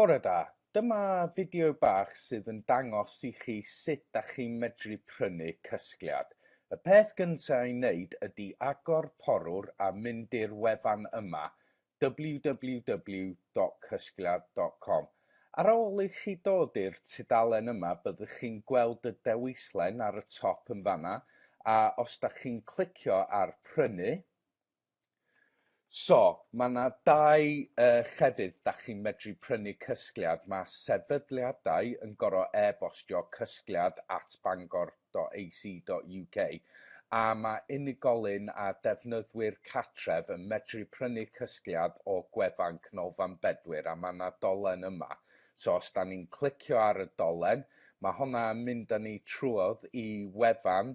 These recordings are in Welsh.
Bore da, dyma fideo bach sydd yn dangos i chi sut da chi'n medru prynu cysgliad. Y peth gynta i wneud ydi agor porwr a mynd i'r wefan yma, www.cysgliad.com. Ar ôl i chi dod i'r tudalen yma byddwch chi'n gweld y dewislen ar y top yn fanna a os da chi'n clicio ar prynu, So, mae yna dau uh, llefydd da chi'n medru prynu cysgliad. Mae sefydliadau yn gorau e-bostio cysgliad at bangor.ac.uk a mae unigolyn a defnyddwyr catref yn medru prynu cysgliad o gwefan Canolfan Bedwyr a mae yna dolen yma. So os da ni'n clicio ar y dolen, mae hwnna yn mynd â ni trwodd i wefan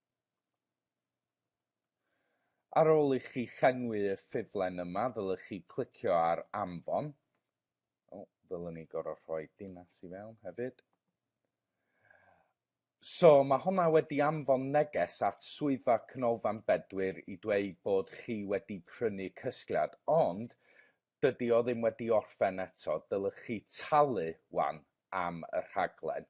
Ar ôl i chi llenwi y ffurflen yma, ddylech chi clicio ar anfon. O, ddylwn ni gorau rhoi dinas i fewn hefyd. So, mae hwnna wedi anfon neges at Swyddfa Canolfan Bedwyr i dweud bod chi wedi prynu cysgliad, ond dydy o ddim wedi orffen eto, dylech chi talu wan am y rhaglen.